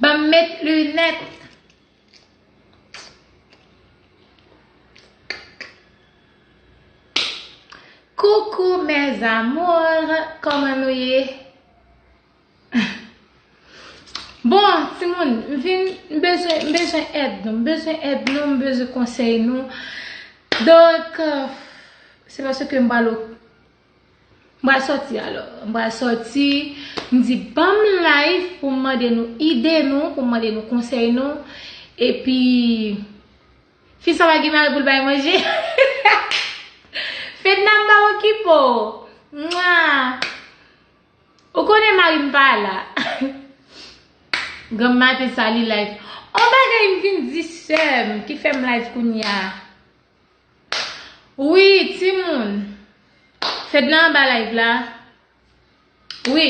Banm met lunèt. Coucou mes amours, koman nou ye? Bon, ti moun, m vin, m bezwen, m bezwen èd nou, m bezwen èd nou, m bezwen konsèy nou. Donk, se paske m pral o. M pral sòti alò. M pral sòti. M di banm live pou m mande nou ide nou, pou m mande nou konsèy nou. E pi fi sa pa gen mari pou l bay manje. Fedna m pa okipe w. Mwa. Ou konnen mari m pa la. Granm maten sa li live. On bagay m vin di sè m ki fè m live kounye a. Wi ti moun Fedna anba live la wi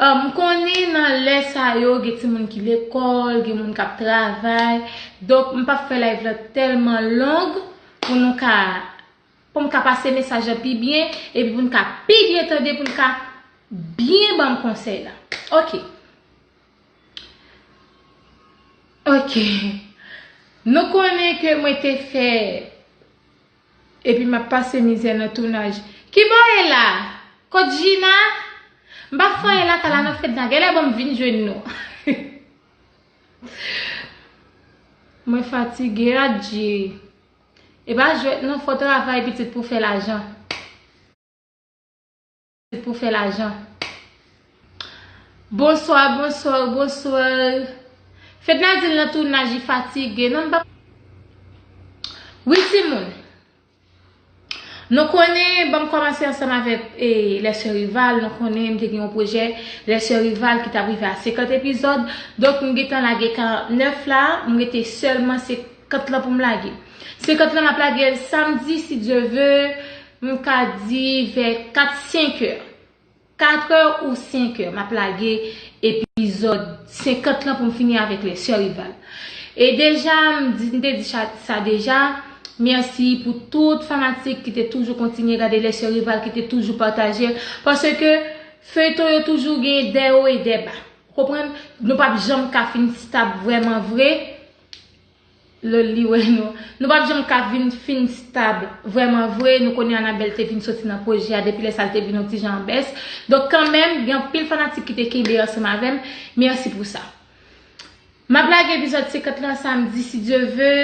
m konnen nan lè sa yo gen ti moun ki lekòl gen moun kap travay donk m pap fè live la tèlman long pou nou ka pou m ka pase mesaj la pi byen epi pou nou ka pi byen tande pou nou ka byen banm konsèy la ok. Ok Nou konnen ke mwen te fè Epi map pase mizè nan tounaj Kibò e la? Kot Jina? M pa fò e la ta la nan fedna Genlè banm vin jwenn nou Mwen fatige adje E pa jwèt non fò travay pitit pou fè lajan. Pou fè lajan. Bonsoir bonsoir bonsoir. Fedna di l nan tounaj li fatigue. Non m pa. Wi timoun. Nou konnen banm kòmanse ansanm avèk e les soeurs rivales nou konnen m te gen yon pwojè les soeurs rivales ki tap rive a 50 epizòd donk m gentan lage 49 la m rete sèlman se Kant lan pou m lage. Se kant lan m ap lage l samdi si Dye ve, m ka di vè 4, 5 è. 4 è ou 5 è m ap lage epizòd 50 lan pou m fini avèk les sœurs Rival. E deja m di, m te di sa deja, mèsi pou tout fanatik ki te toujou kontinye gade les sœurs Rival, ki te toujou pataje l. Paske feyton yo toujou gen dè wo e dè ba. Ou konprann? Nou p ap janm ka fin stab vrèman vre. Lè li wè nou. Nou pap janm ka vin fin stab vrèman vre. Nou konnen Anabelle te vin soti nan pwojè a depi lè sa li te vin yon ti jan an bès. Donk kanmenm gen anpil fanatik ki te kenbe ansanm avè m. Mèsi pou sa. M ap lage epizòd 50 lan samdi si Dye ve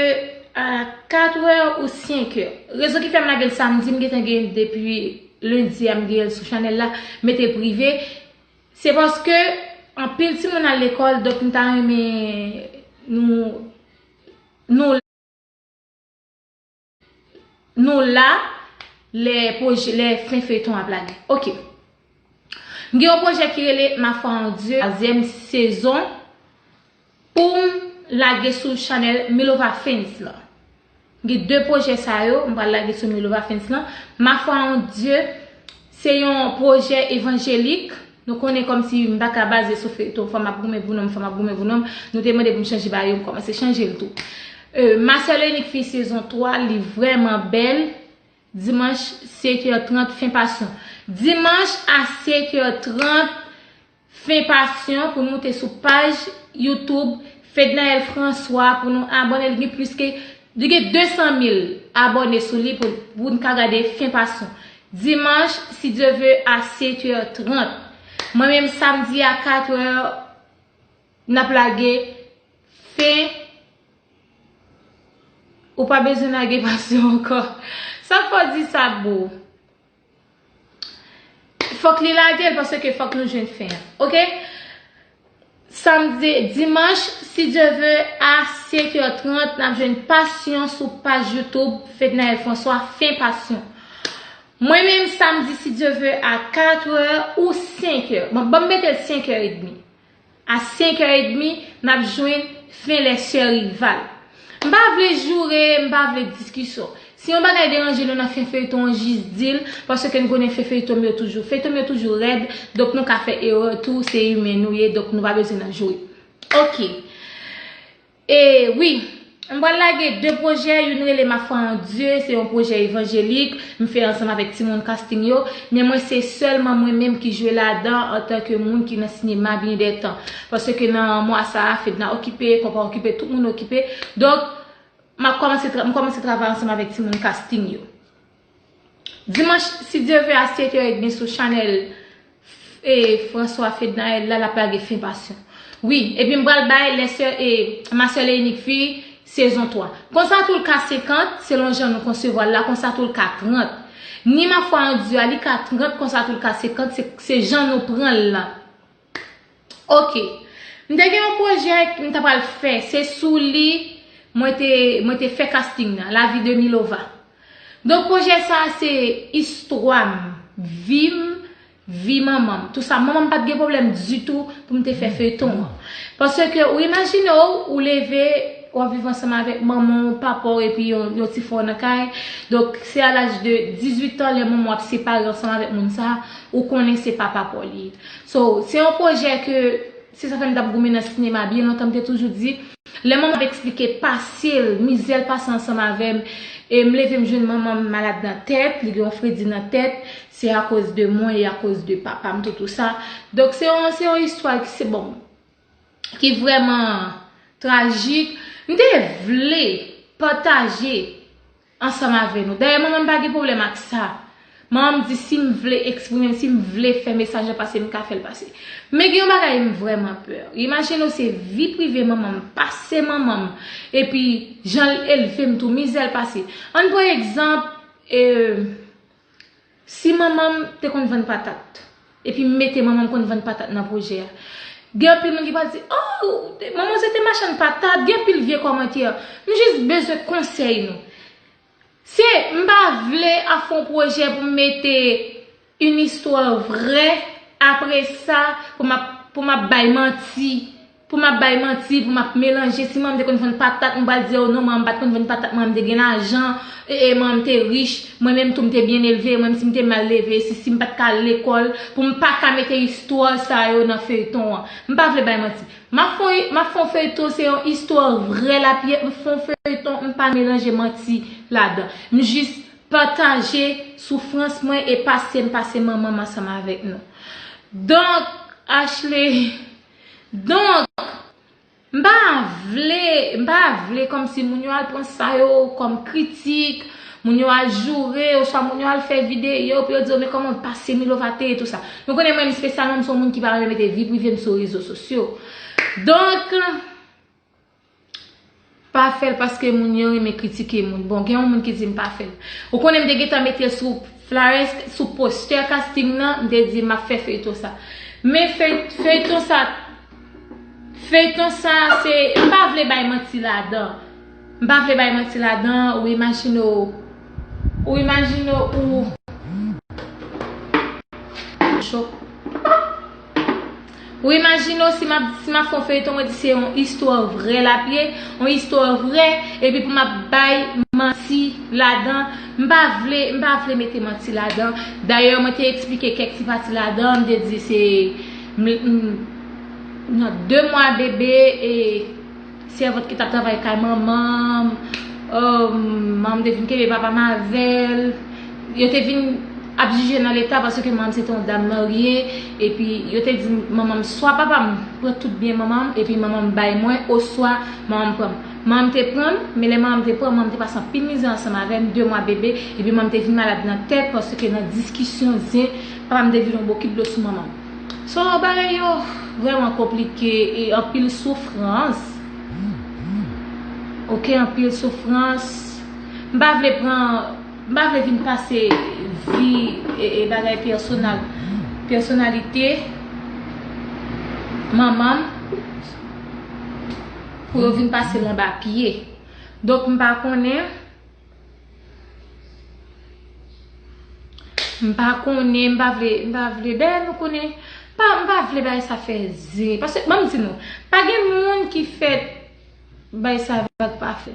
a 4 è ou 5 è. Rezon ki fè m lage l samdi m gentan gen l depi lendi a m gen l sou chanèl la mete prive. Se paske anpil timoun al lekòl donk m ta renmen nou nou la lè pwojè lè fen feyton ap lage ok m gen yon pwojè ki rele ma foi en Dieu 3 ème sezon. Poum lage sou chanèl Milova Films lan. Gen 2 pwojè sa yo m pral lage sou Milova Films lan. Ma foi en Dieu se yon pwojè evanjelik. Nou konnen kòmsi m pa ka baze sou feyton Fanm ap goumen pou nonm Fanm ap goumen pou nonm. Nou te mande pou m chanje ba yo m kòmanse chanje l tou. Ma seule et unique fille sezon 3 li vrèman bèl. Dimanch 7 heures 30 fen passion. Dimanch a 7 heures 30 Fen passion pou nou te sou paj YouTube Fednaelle François pou nou abonné li gen plis ke li gen 200 mil abonné sou li pou nou ka gade fen passion dimanche si Dieu veut a 7 heures 30 mwen menm samedi a 4 heures nap lage fen ou pa bezwen lage passion ankò sak fè w di sa boo. Fok li lagel paske fok nou jwenn fen an ok samdi dimanche si Dieu veut a 5 heures 30 nap jwenn passion sou page YouTube Fednaelle François fen passion mwen menm samdi si Dieu veut a 4 heures ou 5 heures bon banm metel 5 heures et demi. A 5 heures et demi nap jwenn fen les soeurs rival. M pa vle joure, m pa vle diskison. Si yon bagay deranje nou nan fen feyton an jis dil paske n konnen fen feyton m yo toujou. Feyton m yo toujou rèd donk nou ka fè erreur tou se humain nou ye donk nou pa bezwen nan joure. Ok. E wi! M pral lage 2 pwojè, youn rele Ma foi en Dieu, se yon pwojè evanjelik, m fè ansanm avèk timoun Casting yo, men mwen se sèlman mwen menm ki jwe ladan antan ke moun ki nan sinema byen dè tan. Paske nan mwa sa a, Fedna okipe, Konpa okipe, tout moun okipe. Donk, m ap kòmanse, m kòmanse travay ansanm avèk timoun Casting yo. Dimanch si Dye ve a 7 è edmi sou chanèl François Fednaelle la lap lage fin passion wi epi m pral bay les soeurs et ma seule et unique fille sezon 3 konsa tou l ka 50 selon jan nou konsevwa l la konsa tou l ka 30 ni ma foi en Dieu a li ka 30 konsa tou l ka 50 se jan nou pran l lan. Ok m te gen yon pwojè m ta pral fè se sou li mwen te mwen te fè casting nan la vie de milova donk pwojè sa se istwa m vi m vi manman m tou sa manman m pat gen pwoblèm ditou pou m te fè feyton an pase ke ou imajine w ou leve w ap viv ansanm avèk manman w papa w epi yon yon ti fè w nan kay donk se a laj de 18 an lè manman w ap separe ansanm avèk moun sa ou konnen se pa papa w li ye. So, se yon pwojè ke, se sa fè m t ap goumen nan sinema byen lontan, m te toujou di, lè manman m ap eksplike pase l, mizè l pase ansanm avè m, e m leve m jwenn manman m malad nan tèt, li gen yon fredi nan tèt, se akoz de mwen e akoz de papa m te tou sa. Donk se yon, se yon istwa ki se bon, ki vrèman trajik. M te vle pataje. Ansanm avè nou. Dayè manman m pa gen pwoblèm ak sa. Manman m di si m vle eksprime m, si m vle fè mesaj la pase m ka fè l pase. Men gen yon bagay m vrèman pè. Imajine w se vi prive manman m, pase manman m, epi jan l elve m tou, mizè l pase. Ann pran egzanp, ee. Si manmanm te konn vann patat. Epi m mete manmanm konn vann patat nan pwojè a. Gen anpil moun ki pral di oh manmanw se te machann patat gen anpil vye kòmantè. M jis bezwen konsèy nou. Se m pa vle ap fè yon pwojè pou m mete yn istwa vrè apresa pou m ap pou m ap bay manti Pou map bay manti pou map melanje si manman m te konn vann patat m pral diw non manman m pat konn vann patat manman m te gen lajan ee manman m te rich mwen menm tou m te byen elve menm si m te mal leve si si m pat ka al lekòl pou m paka mete istwa sa yo nan feyton an m pa vle bay manti map fon map fon feyton se yon istwa vrè lap ye m fon feyton m pa melanje manti ladan m jis pataje soufrans mwen e pasem pase manman m ansanm avèk nou donk Ashley. Donk, m pa vle, m pa vle kòm si moun yo al pran sa yo kòm kritik, moun yo al joure, oswa moun yo al fè videyo pou yo di yo men kòman pase Milova te ye tou sa. Nou konnen mwen menm espesyalman m se yon moun ki pa renmen mete vi prive m sou rezo sosyo. Donk. Pa fèl paske moun yo renmen kritike moun. Bon gen yon moun ki di m pa fèl. Ou konnen m te gentan metel sou flyers sou poster casting nan m te di map fè feyton sa. Men feyton sa feyton sa se m pa vle bay manti ladan. M pa vle bay manti ladan ou imajine w ou imajine w ou. Ou imajine w si m ap fè yon feyton mwen di se yon istwa vrè l ap ye, yon istwa vrè epi pou m ap bay manti ladan. M pa vle, m pa vle mete manti ladan. Dayè mwen te eksplike kèk ti pati ladan, m te di se nan 2 mwa bebe e. Sèvant ki tap travay kay manmanm ohmm manmanm te vin kenbe papam avèl yo te vin ap jijel nan leta paske manmanm se te yon dam marye epi yo te di manmanm swa papam pran tout byen manmanm epi manmanm bay mwen oswa manmanm pranm manmanm te pranm men lè manmanm te pranm manmanm te pase anpil mizè ansanm avèm 2 mwa bebe epi manmanm te vin malad nan tèt paske nan diskisyon zen papam te vire yon bokit dlo sou manmanm. Solo bagay yo vreman konplike e anpil soufrans ok anpil soufrans m pa vle pran m pa vle vin pase vi e bagay personal personalite manman m pou yo vin pase l anba pye donk m pa konnen M pa konnen, m pa vle, m pa vle. Dayè nou konnen, m pa, m pa vle bagay sa fè zin. Pase, banm di nou, pa gen moun ki fèt bagay sa vag pa fè.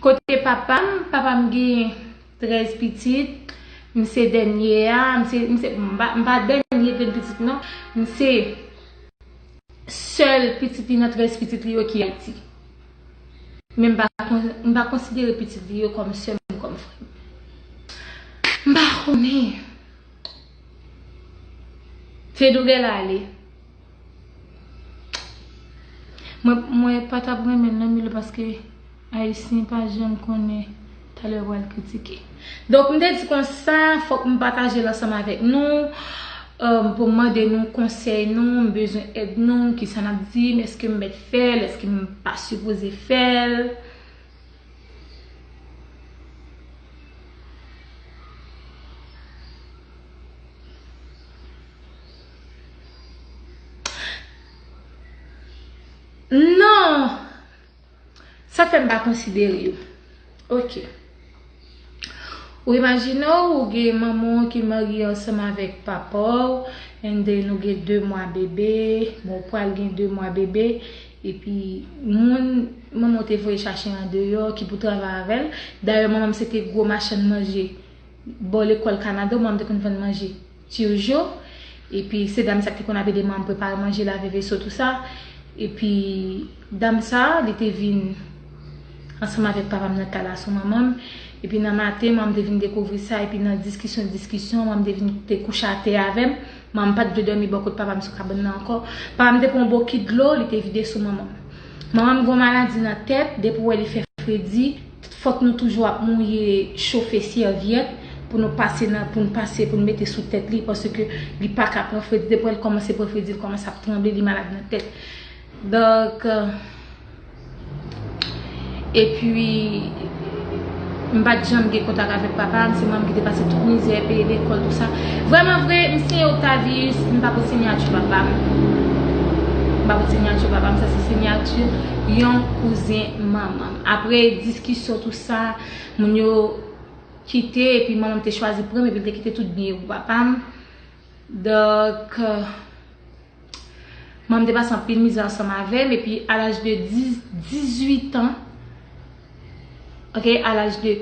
Kote papa m, papa m gen 13 pitit, m se dènye a, m se, m se, m pa, m pa dènye grenn pitit non. M se sèl pitit li nan 13 pitit li yo ki Ayiti. Men m pa konsidere pitit li yo kòm sè m, kòm frè m. M pa konnen. Fedou genlè ale. Mwen pa t ap renmen l nan Milo paske Ayisyen pa janm konnen. Talè ou al kritike. Donk m te di konsa fòk m pataje l ansanm avèk nou pou m mande nou konsèy nou, m bezwen èd nou, kisa n ap di m, èske m mèt fè l, èske m pa sipoze fè l. Non! Sa fè m pa konsidere yo. Ok. Ou imajine w ou gen manman w ki marye ansanm avèk papa w and then ou gen 2 mwa bebe, bon ou pral gen 2 mwa bebe epi moun manman w te voye chache andeyò ki pou travay avè l, dayè manman m se te gwo machann manje bò lekòl Kanada manman m te konn vann manje. Turgeau epi se dam sa ki te konn ap ede manman prepare manje lave veso tout sa epi dam sa li te vin ansanm avèk papam nan kay la sou manmanm epi nan maten manmanm te vin dekouvri sa epi nan diskisyon diskisyon manmanm te vin te kouche atè avèm manmanm pat vle dòmi bò kot papam sou kabann nan ankò papam te pran yon bokit dlo li te vide sou manmanm manmanm gon maladi nan tèt depi ou wè li fè fredi. Fòk nou toujou ap mouye chofe sèvyèt pou nou pase nan pou n pase pou n mete sou tèt li paske li pa ka pran fredi depi lè l kòmanse pran fredi li kòmanse ap tranble li malad nan tèt donk epi m pa t janm gen kontak avèk papa m se manman m ki te pase tout mizè peye lekòl tout sa vrèman vre m siyen Octavius m pa pot sinyati papa m m pa pot sinyati papa m sa se sinyati yon kouzen manman m. Apre diskisyon tou sa, moun yo kite epi manman m te chwazi pran m epi l te kite tout byen yo pou papa m. Donk, manman m te pase anpil mizè ansanm avè m epi a laj de 18 an, ok, a laj de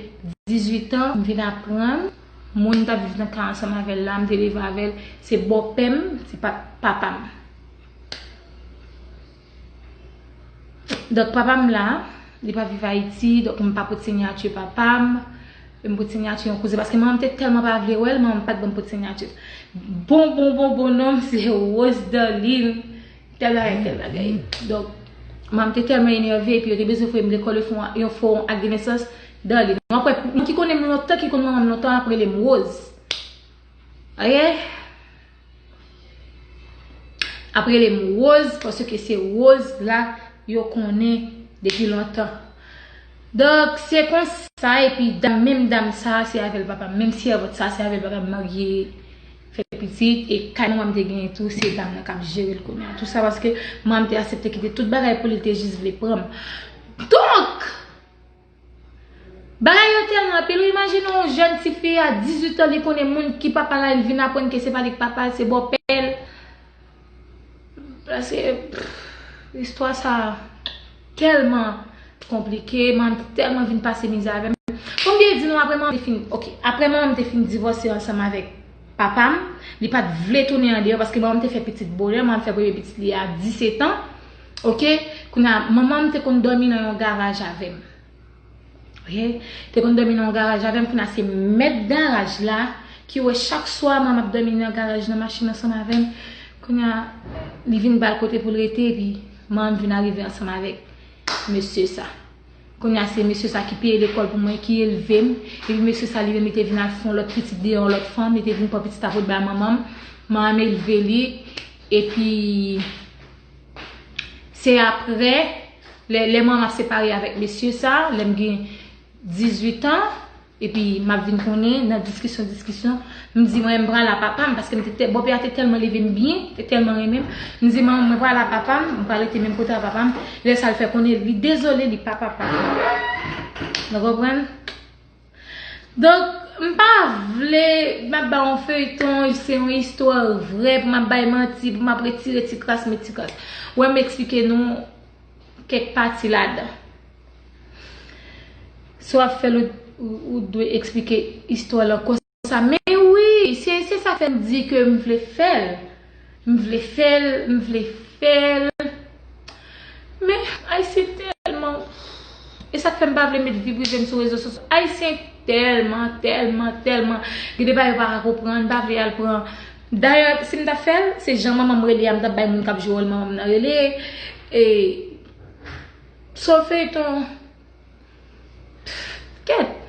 18 an, m vin aprann moun m t ap viv nan kay ansanm avè l la, m te leve avè l, se bòpè m, se pa t papa m. Donk papa m la, li pa viv Ayiti, donk m pa pot sinyati papa m, m pot sinyati yon kouzen, paske manman m te tèlman pa vle wè l, manman m pat ban m pot sinyati. Bon bon bon bon non m se Rose Darline tèl bagay tèl bagay. Donk manman m te tèlman enève epi yo te bezwen voye m lekòl yo fè yon fo ak de nesans Darline. Wap wè, moun ki konnen m lontan, ki konn manman m lontan ap rele m Rose. Ok. Ap rele m Rose paske se Rose la yo konnen depi lontan. Donk se konsa epi dam menm dam sa se avèl papa m menm sèvant sa se avèl papa m marye fè pitit e kay manman m te genyen tou se dam nan kap jere l kounye a. Tou sa paske manman m te asepte kite tout bagay pou li te jis vle pran m. Donk! Bagay yo telman anpil ou imajine yon jèn ti fi a 18 an li konnen moun ki papa la li vin aprann ke se pa li ki papa l se bòpè l prèske istwa sa telman konplike manmi t telman vin pase mizè avè m fòm byen di nou aprè manmi t fin ok aprè manman m t fin divòse ansanm avèk papa m li pat vle tounen andeyò paske manman m t fè pitit bonè manman m fè premye pitit li a 17 an. Ok kounye a manman m te konn domi nan yon garaj avem ok te konn domi nan yon garaj avem kounye a se mèt garaj la ki wè chak swa mwen map domi nan garaj nan machin ansanm avem kounye a li vin bal kote poul rete epi manman m vin arive ansanm avek mesye sa kounye a se mesye sa ki peye lekòl pou mwen ki elvem epi mesye sa li menm li te vin al fon lòt pitit deyò yon lòt fanm li te vin pran pitit sa poul bay manman m manman m elve li epi. Se apre, lè mwen ap separe avèk mesye sa, lè m gen 18 an, epi m ap vin konnen nan diskisyon diskisyon, m di mwen m pral a papa m, paske m te, bòpè a te tèlman leve m byen, te tèlman renmen m, m di manman m mwen pral a papa m, m pral rete menm kote a papa m, lè sa l fè konnen li dezole li pa papa m. Nou konprann? Donk m pa vle m ap ba w yon feyton, se yon istwa vrè pou m ap bay manti, pou m ap retire ti kras met ti kras. Wè m eksplike nou kèk pati ladan. Si w ap fè l ou dwe eksplike istwa lan. sa men wi se se sa fèm di ke m vle fèl m vle fèl m vle fèl men ayisyen tèlman e sak fèm pa vle met vi prive m sou rezo sosyo ayisyen tèlman tèlman tèlman gen de bagay yo pa ka konprann m pa vle al pran dayè si m ta fèl se jan manman m rele a m tap bay moun kap jwe wòl manman m nan rele e se yon feyton Kèt!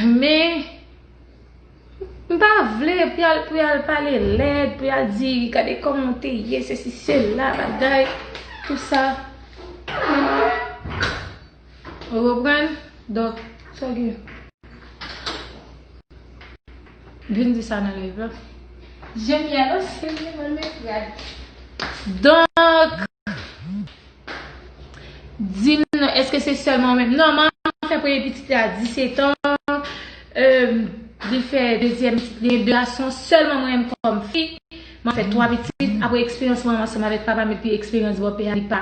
Men, m pa vle pou yal pou yal pale lèd, pou yal di gade kòman ou te ye, se si se la bagay, tout sa. Ou konprann? Donk, sa gen. Vin di sa nan live la. Jèn mi a danse, li menm nan l met rad. Donk. Di m non, èske se sèlman ou menm? Non, manman fè premye pitit li a 17 an, li fè dezyèm pitit li, de gason, sèlman mwen menm kòm fi, mwen fè 3 pitit, apre eksperyans manman ansanm avèk papa m epi eksperyans bòpè a li pa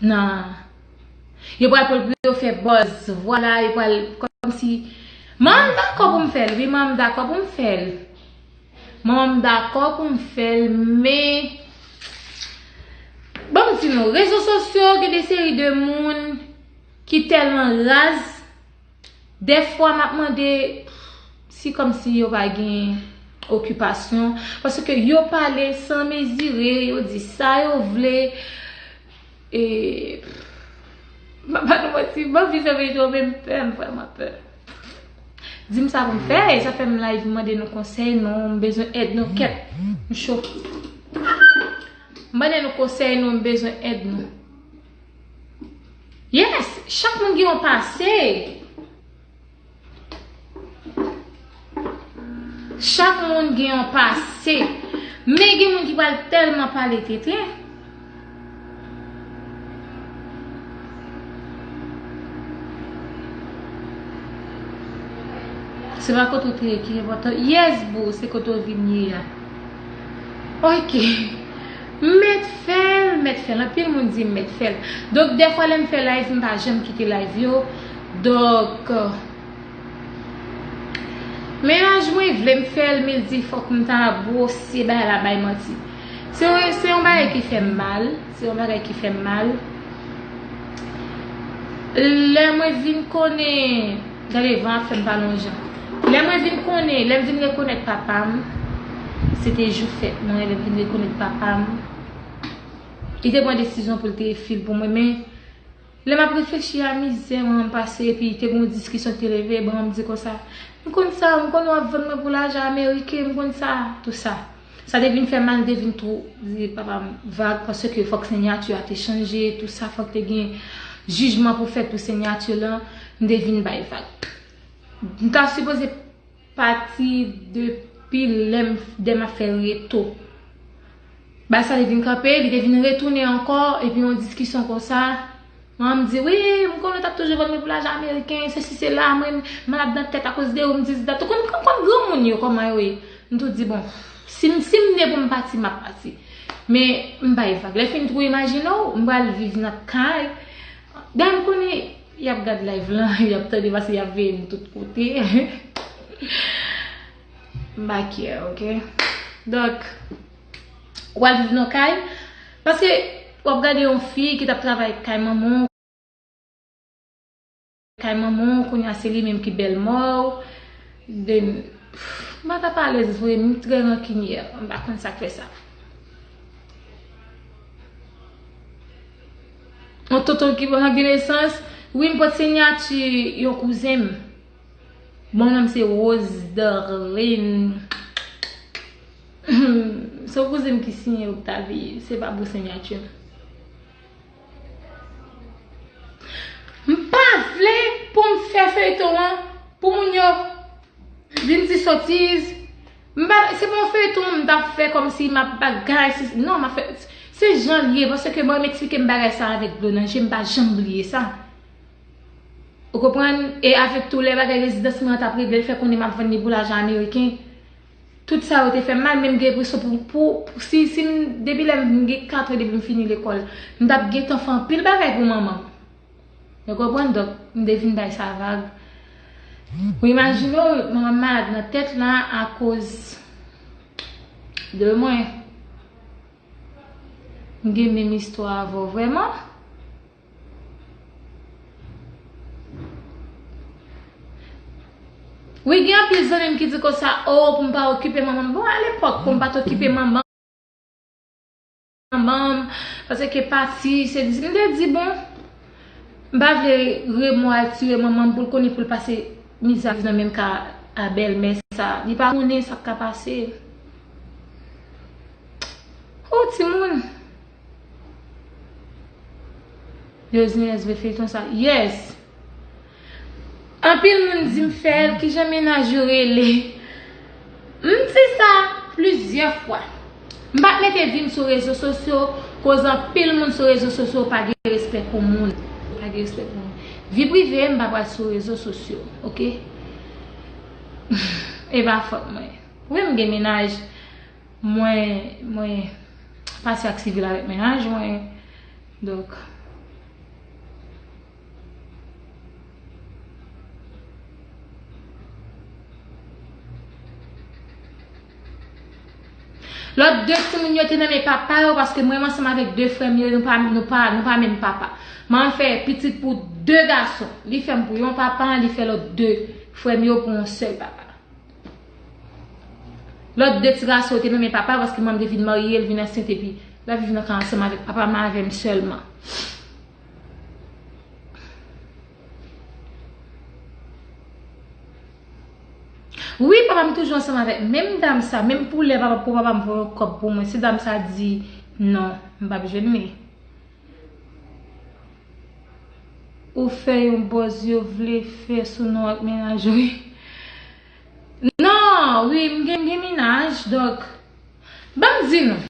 nan yo pral pran l pou yo fè buzz, vwala, yo pral kòmsi Manman m dakò pou m fè l, wi manman m dakò pou m fè l. Mwen m dakò pou m fè l men Ban m di nou rezo sosyo gen de seri de moun ki tèlman raz dèfwa m ap mande si kòm si yo pa gen okipasyon paske yo pale san mezire yo di sa yo vle e m ap ba nou manti m anvi fèmen yo men m pè m vrèman pè. Dim sa pou m fè e sa fè m live mande nou konsèy nou m bezwen èd nou kèt m cho mande nou konsèy nou m bezwen èd nou yes chak moun gen yon pase chak moun gen yon pase men gen moun ki pral tèlman pale tenten Se pa kote ou te ye ki enpòtan. Yes boo, se kote ou vin ye a. Ok. M mèt fè l, m mèt fè l. Anpil moun di m mèt fè l. Donk dèfwa lè m fè live m pa janm kite live yo. Donk. Mennaj mwen vle m fè l men l di fòk m ta gwosye bay la bay manti. Se yon bagay ki fè m mal, se yon bagay ki fè m mal. Lè mwen vin konnen, gade van ap fè m pale yon jan. Lè mwen vin konnen, lè m vin rekonèt papa m, se te jou fèt mwen, lè m vin rekonèt papa m, li te pran desizyon pou l te fil pou mwen men. Lè m ap reflechi a mizè manman m pase epi te gen yon diskisyon ki te leve, manman m di konsa, M konn sa, m konn ou ap vann mwen pou lajan ameriken, m konn sa, tou sa. Sa te vin fè mal, m te vin tou di papa m vag paske fòk senyati a te chanje, tou sa, fòk te gen jijman pou fèt pou senyati lan, m te vin bay vag. M ta sipoze. Pati de pi lè m fdm ap fè reto. Bay sa li vin kanpe, li te vin retounen ankò, epi yon diskisyon konsa, manman m di wi m konnen ou t ap toujou vann mwen pou lajan ameriken, sesi sela, mwen malad nan tèt akoz de ou, m dis dat, ou konn granmoun yo kòman yo ye, m tou di bon, si m ne pou m pati m ap pati. Men m bay vag, lè fini tou imajine w m pral viv nan kay, dayè m konnen Yap gad live lan, yap tande pase yap veye nou tout kote. Makyè ok. Donk, wal viv nan kay. Pase, wap gade yon fi ki tap travay kay manman. Kay manman, kounya se li menm ki bèl mò. Then, mwen pa pale z vre, mwen trè rankinyè. Mwen pa konn sak fè sa. Yon tonton ki ban Ranbir nesans. Wi m pot sinyati yon kouzen m. Bon non m se Rose Darline. Se yon kouzen m ki siyen Octavie. Se pa bon sinyati m. M pa vle pou m fè feyton an pou moun yo vin di sotiz. M pa se pa yon feyton m tap fè kòmsi m ap bagay si non m ap fè se jan l ye paske bon yo m eksplike m bagay sa avèk dlo nan je m pa janm bliye sa ou konprann e avèk tou lè bagay rezidans mwen an t ap regle l fè konnen m ap vann li pou lajan ameriken tout sa yo te fè m mal men m gen enpresyon pou pou si si m depi lè m gen katran depi m fini lekòl m t ap gentan fè anpil bagay pou manman m. Nou konprann donk m te vin bay sa vag. Ou imajine w m ap malad nan tèt la akoz de mwen. M gen menm istwa avè w vrèman? Wi gen anpil zanmi m ki di konsa oo pou m pa okipe manman m. Bon alepòk pou m pa t okipe manman. Manmanm pase ke pati se di m te di bon m pa vle remo al tire manmanm poul konnen poul pase mizè ap viv nan menm ka a bèlmè sa li pa konnen sak ka pase hoo timoun yo znyèz vre feyton sa yes. Anpil moun di m fè l, kijan mennaj yo rele? M di sa plizyè fwa. M pa t mete vi m sou rezo sosyo koz anpil moun sou rezo sosyo pa gen respè pou moun. Vi prive m pa pral sou rezo sosyo ok. E pa fòt mwen. Wi m gen mennaj, mwen pase ak sivil avèk mennaj mwen. Lòt 2 timoun yo te nan men papa yo paske mwen ansanm avèk 2 frè m yo nou pa nou pa nou pa menm papa. Manman m fè pitit pou 2 gason. Li fè m pou yon papa, li fè lòt 2 frè m yo pou yon sèl papa. Lòt 2 ti gason yo te nan men papa paske manman m te fin marye, l vin ansent epi l ap viv nan kay ansanm avèk papa m avè m sèlman. Wi papa m toujou ansanm avèk menm dam sa menm pou lè papa pou papa m voye yon kòb pou mwen si dam sa di non m pap jwenn li ou fè yon bòz yo vle fè sou nou ak menaj ou nan wi m gen menaj donk banm di nou.